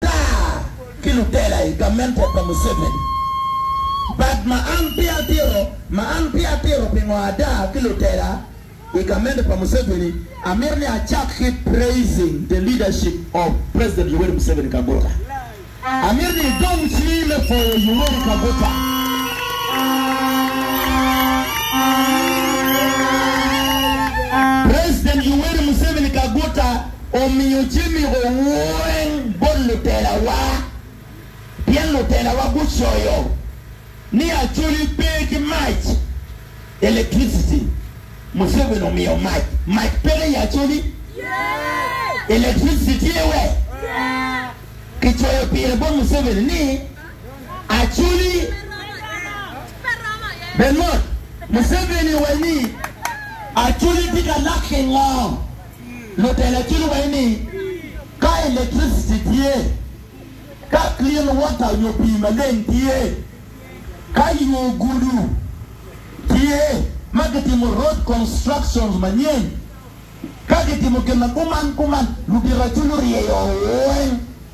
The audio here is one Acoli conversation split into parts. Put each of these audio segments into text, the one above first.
tar ki lutela i gamente pa Museveni. Bad ma an pe atito, ma an pe atito pingo ada ki lutela i gamente pa Museveni, amito ni acak ki praising the leadership of President Yoweri Museveni Kaguta. Amito ni idong cingi me pwoyo Yoweri Kaguta. omiyo Jimiko weng bot lutelawa, pien lutelawa gucoyo ni Acholi pe ki mac, electricity, Museveni omiyo mac, mac peke i Acholi, electricity tye we? Kicoyo pire bot Museveni ni Acholi pe mot, Museveni owaco ni Acholi tye ka lak ki ngo? Lutela cwinyo wai ni ka electricity tye, ka clean water nyo pii maleng tye, ka yo gudu tye ma gitimo road constructions manyen, ka gitimo gin ma kuman kuman, lubiracu luryeyo weng.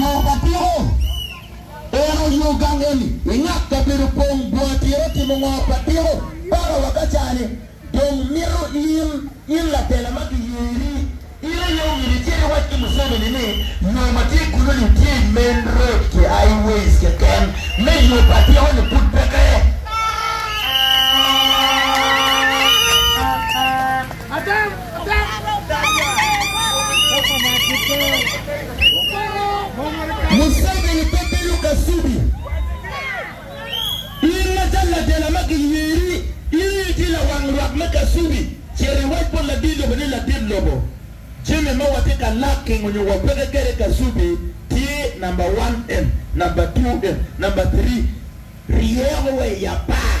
Yo pa piko, Eno yo gang eni i ngat kabedo pong bwa tira timo ngo pa piko baka wa ka cani dong mito in in latela ma giyeri in aye omyero icit iwac ki Museveni ni yo ma tye kunu ni tye i main road ki high ways keken me yo pa piko ni pud peke. Museveni pe bedo Kasubi. In macalo ladela ma giyeri, in aye itye lawang lwak me Kasubi. Cit iwac bot ladit lobo ni, Ladit lobo, jami ma watye ka laking nyo wapeke kwede i Kasubi tye namba wan en, namba two en, namba three. Ryeo wa i apar.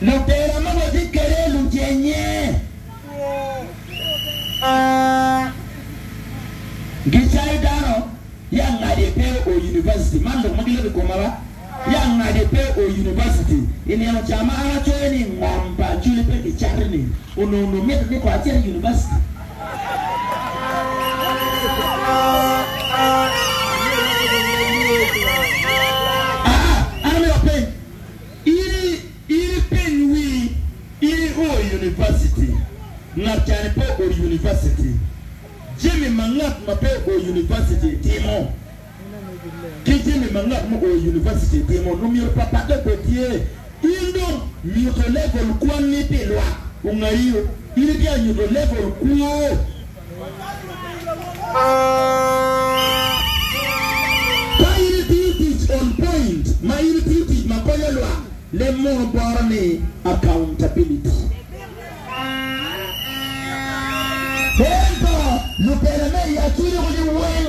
Lutera ma watye kwede lucennye gicayo dano ya ngadi pe o University. Man lok ma giloko i koma ba, ya ngadi pe o University. I nino ca ma an acoyo ni ngom pa Acholi pe kicato ni, onongo nongo mitte ni kong acit i University. Aa, an amito apeny, In ipeny wi, in i o i University, ngat cani pe o i University, jami ma ngat ma pe o i University timo ki jami ma ngat mu o i University timo lumyero pat pat dok bed tye. In dong nyuto level kwanni pi lwak ongaio, in itye ka nyuto level kwo. Ka in itiyo tic on-point ma in itiyo tic ma konyo lwak, leb mono boro ni Accountability. Ento, lubela me i Acuc-gu-ni weng.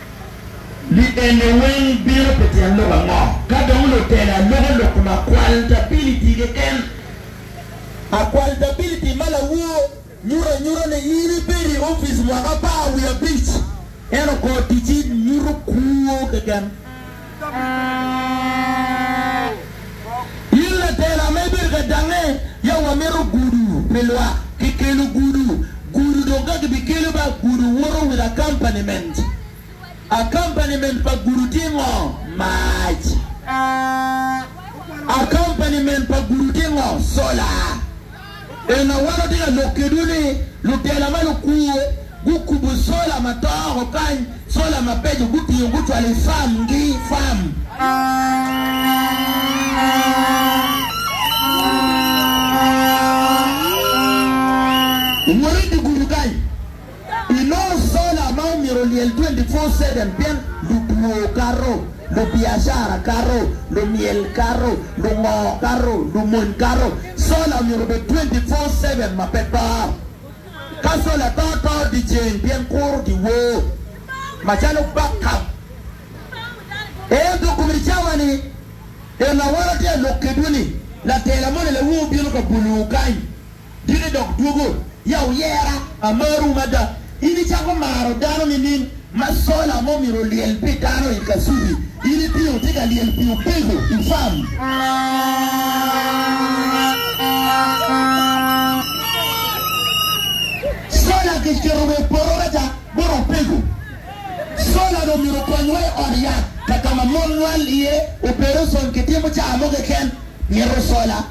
Li eni weng bino pi tyen lok ango? Ka dong lutelo aloko lok kom akwaltabilliti keken, akwaltabilliti ma lawor nyuto anyuta ni in ibedo i opic mwaka apar wiye abic, ento kor ticci nyuto kwo keken. In latela ma ibedo ka dangnge, yam wamito gudu pi lwak. Kikelo gudu, gudu dong ka kibikele ba gudu woto with accompaniment. Accompaniment pa gudu tye ngo? Mac. Accompaniment pa gudu tye ngo? Solar. En ma wan watye ka lok kedwu ni lutela ma lukwo gukubo sola ma to oko kany, sola mabeco gutingo gucwalo i farm gi farm. I nongo sola ma omyero olyel 24/7 pien ludwo kato, lubiacara kato, lumyel kato, lungo kato, lumony kato. Sola omyero obed 24/7 ma pe to. Ka sola to, to dyeceng pien kuro giwor macalo backup. Ento kum i cawa ni en lawala tye alok kedwu ni latela moni lawu obino ka bulwu kany. Diki dok dwogo, ya oyera. Amaru mada. In icako maro dano nining? Ma sola mo myero olyel pi dano i kasubi, in itingo tye ka lyel pi opego i farm. Sola kiketo wa i poto meja bot opego. Sola dong myero okony wa i ot yat kakama mon nywal iye, opereson kitimo caa mo keken, myero sola.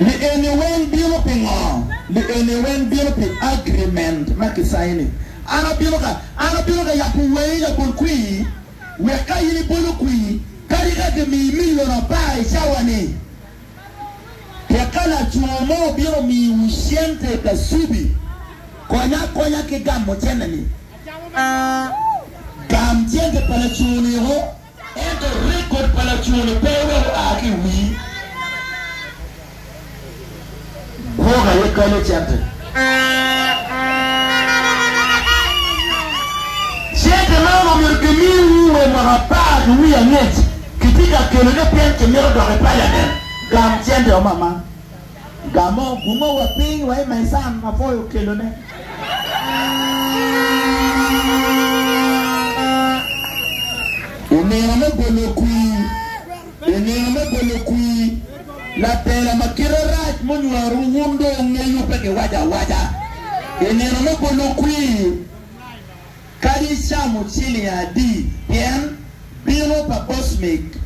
Li eni weng bino pi ngo? Li eni weng bino pi agreement ma ki sign ni. An abino ka, an abino ka yabo wangi labol kwii, wek ka in ibolo kwii, kadi ka ki mii million apar i cawa ni, tek ka lacoo mo obino mii wu cente pa subi, konya akonya ki gamo cente ni. Gam cente pa lacoo ni o. Ento rekod pa laco-ni pe odok oa ki i wii gwok aye kalle cente. Cente man omyero kimiwu wa mwaka apar ki wiye angec. Kitye ka keloge pien kimito dok i paliament. Gam cente-wa mama. Gamo bunga wa piny wa i maisan ma poi okelo ne. Inino me bolo kwir, inino me bolo kwir, labela ma kite rac munywaro wun dong wungeyo pe giwaco awaca. Inino me bolo kwir, kadi icamo ciling adi pien bino pa bocmik.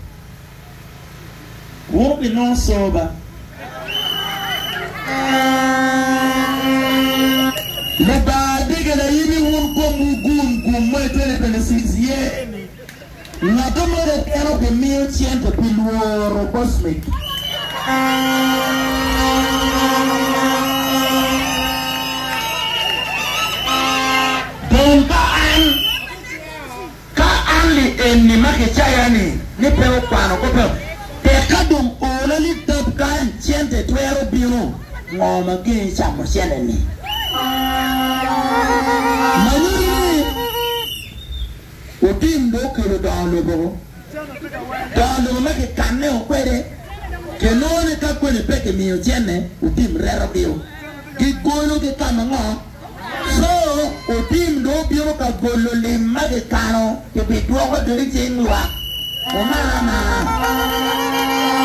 Wuu bi nongo soba. Lubanga bigela yimi wun kom wu gun gum mo i 2026 ye ni ngato mo keken obi miyo cente pi lworo cosmic. Dong ka an. Ka an li enni ma kicaya-ni ni pe okwano kobba, tek ka dong ola li tab kany cente twero bino ngo ma gengi camo cente-ni? Ma nyuto ni otim dong okelo dongo lobo-o. Dongo lobo ma kikanne-o kwede, kinongo ni ka koni pe kimiyo cente, otim reto-gi-o. Gigolo ki ka ma ngo? Co otim dong obino ka golo lim ma kikano kibidwoko dong i cing lwak. Omar Amar.